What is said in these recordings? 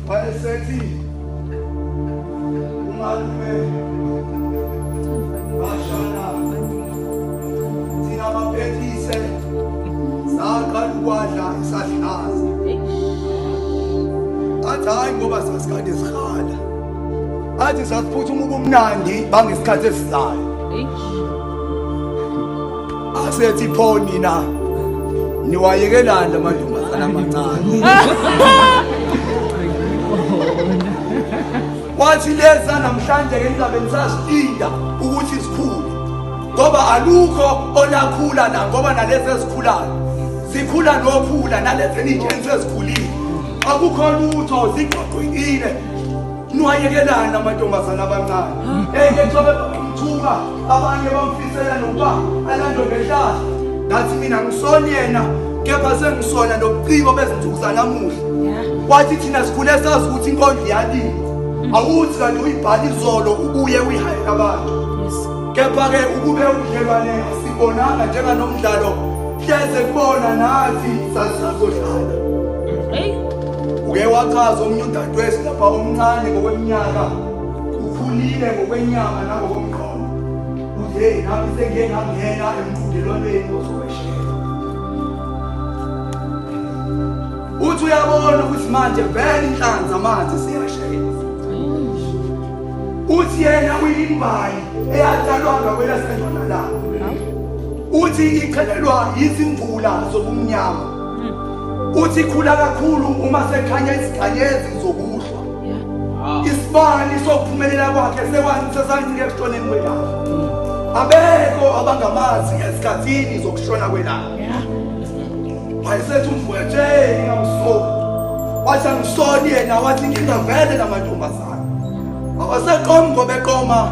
wayesethi umalume bashana thina baphethise saqala ukwadla isahlaza athi hhayi ngoba sasikade sikhala athi sasiphuthuma ubumnandi bangesikhathi esizayo asethi pho nina niwayekelani la mantombazana amancane wathi leza namhlanje-ke ningabe nisazilinda ukuthi zikhule ngoba alukho olakhula na ngoba nalezi ezikhulayo zikhula nokhula nalezi eninjeni sezikhulile akukho lutho ziqoqekile Niwayekelani amantombazane abancane eyethobe eh, bamthuka abanye bamfisela nokuba alandwe ngehlahla ngathi mina ngisoni yena kepha sengisona nobuciko bezinsuku zanamuhla wathi thina sikhule sazi ukuthi inkondlo iyalile mm. awuthi kanti uyibhala izolo ubuye uyihayela abantu kepha-ke ukube ubudlelwane asibonanga njenganomdlalo Hleze kubona nathi sasizodlala. Hey. Uke wachaza omunye udadewethu lapha omncane ngokweminyaka. Ukhulile ngokwenyama nangokomqondo. Uthe nami sengike ngangena emqhudelwaneni ozokweshela. Uthi uyabona ukuthi manje vele inhlanzi amanzi siyashela. Uthi yena uyimbayi eyathalwa ngakwelasenjona lapho. uthi iphelelwa yizimvula zobumnyama hmm. uthi ikhula kakhulu uma sekhanya iziganyezi zokuhlwa isibani sokuphumelela kwakhe sesancike ekushoneni kwelanga hmm. abekho abangamazi esikhathini zokushona kwelanga wayesethi umfowethu ingamsoli wathi angisoli yena wathi inkinga vele namantombazana awasaqomi ngobeqoma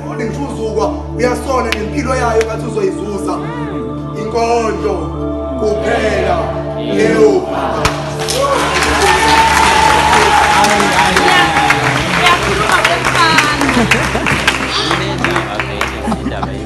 Ufundi ngithuzukwa uyasola ngempilo yayo ngathi uzoyizuza inkondlo kuphela leyo